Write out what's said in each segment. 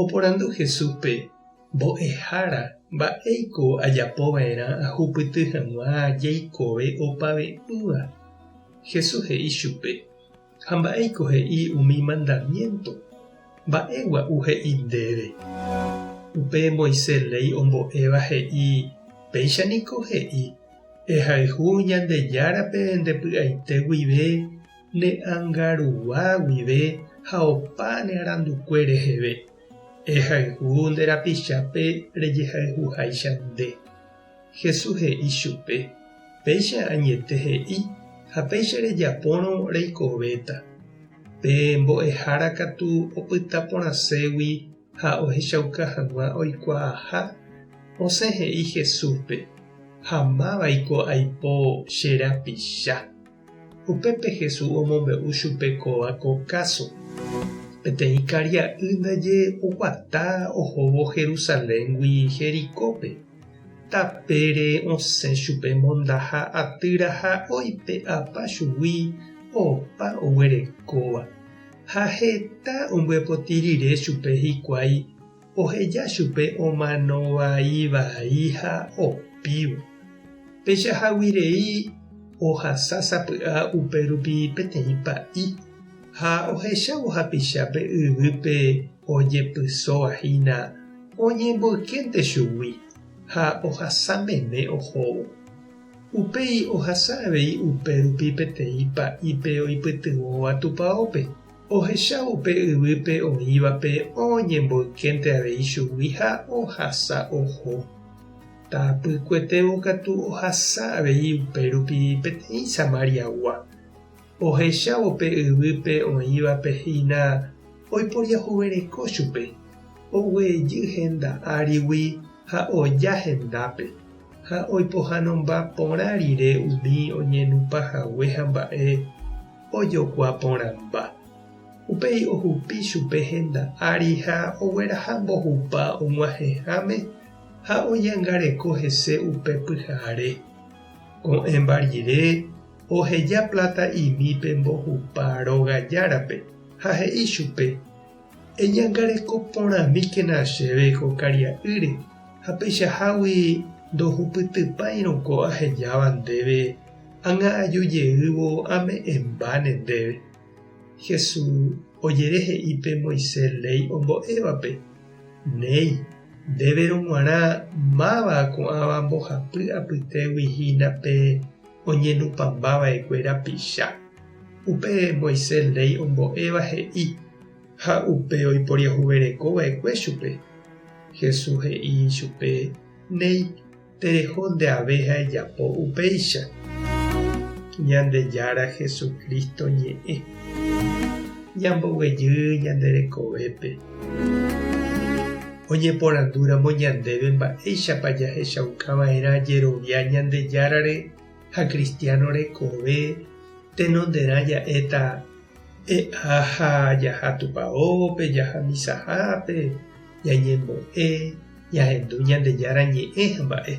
Oporandu Jesúspe, Mbo'ehára, mba'éiko ajapova'erã ahupyty hag̃ua jeikove opave'ỹva? Jesús he'i chupe, Ha mba'éiko he'i umi mandamiénto? Mba'e gua'u he'i ndéve? Upe Moisés léi ombo'éva he'i, Péicha niko he'i, 'Ehayhu Ñandejárape nde py'aite guive'. ne angarua guive ha opa ne arandukue reheve, ehayhu nde rapichápe rejehayhuháicha nde. Jesús he'i chupe, Péicha añete he'i ha péicha rejapórõ reikovéta. Pe mbo'ehára katu opyta porãségui ha ohechauka hag̃ua oikuaaha, osẽ he'i Jesúspe, Ha mávaiko aipo che rapicha. Upépe Jesús omombe'u chupe kóva ko káso, Peteĩ karia'y ndaje oguata ohóvo Jerusaléngui Jericópe. Tapére osẽ chupe mondaha atýra ha oipe'apa chugui opa oguerekóva, ha heta ombyepoti rire chupe hikuái. oheja chupe omano vai vai ha opívo. Péicha hágui rei ohasa sapy'a upérupi peteĩ pa'i, ha ohechávo hapichápe yvýpe ojepysóva hína oñemboykénte chugui ha ohasa meme ohóvo. Upéi ohasa avei upérupi peteĩ pa'ípe oipytyvõva tupaópe. Ohechávo pe yvýpe oĩvape oñemboykénte avei chugui ha ohasa oho. Tapykuetévo katu ohasa avei upérupi peteĩ Samariagua. Ohechávo pe yvýpe oĩvape hína oiporiahuvereko chupe, oguejy henda árigui ha oja hendápe, ha oipohãnomba porã rire umi oñenupãhague hamba'e. ojokuaa porãmba. Upéi ohupi chupe henda ári ha ogueraha mbohupa og̃uahẽháme ha oñangareko hese upe pyhare. Ko'ẽmba rire, oheja pláta imi pe mbohupa róga járape ha he'i chupe, Eñangareko porãmíkena chéve ko karia'ýre ha peichahágui ndohupytypáirõ ko ahejáva ndéve Anga'aju jeývo ame'ẽmbáne ndéve. Hesu ojere he'i pe Moise léi ombo'évape, Néi, ndéverõ g̃uarã máva ko'ãva mbohapy apytégui hína pe oñenupãmba vaekue rapicha. Upe Moise léi ombo'éva he'i, ha upe oiporiahuvereko vaekue chupe. Hesu he'i chupe, Néi. Tereho ndeave ha ejapo upéicha. Ñandejára Jesucristo ñe'ẽ. Ñamboguejy ñande rekovépe. Oñeporandúramo ñandéve mba'éichapa jahechaukava'erã jerovia Ñandejárare ha kristiáno rekove, tenonderã ja'éta e'a ha jaha Tupaópe, jaha misahápe, ñañembo'e, jahendu Ñandejára ñe'ẽ ha mba'e.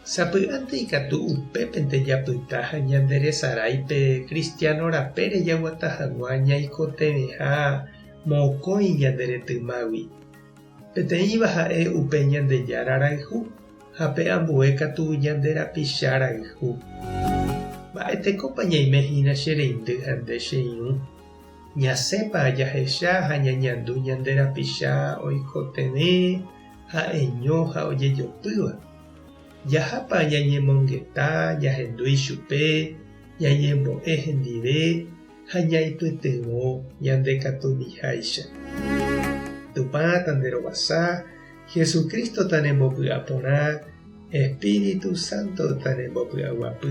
Sapy'ánte ikatu upépente japyta ha ñanderesarái pe kristiáno rapére jaguata hag̃ua ñaikotevẽha mokõi ñande retymágui. Peteĩva ha'e upe Ñandejára rayhu ha pe ambue katu ñande rapicha rayhu. Mba'etekópa ñaime hína che reindy ha nde che irũ? Ñasẽpa jahecha ha ñañandu ñande rapicha oikotevẽ ha'eño ha ojejopýva? Jahápa ñañemongeta ñahendu ichupe ñañembo'e hendive ha ñaipytyvõ ñande katumiháicha. Tupã Tanderovasa, Jesucristo tanembopy'a porã, Espíritu Santo tanembopy'aguapy.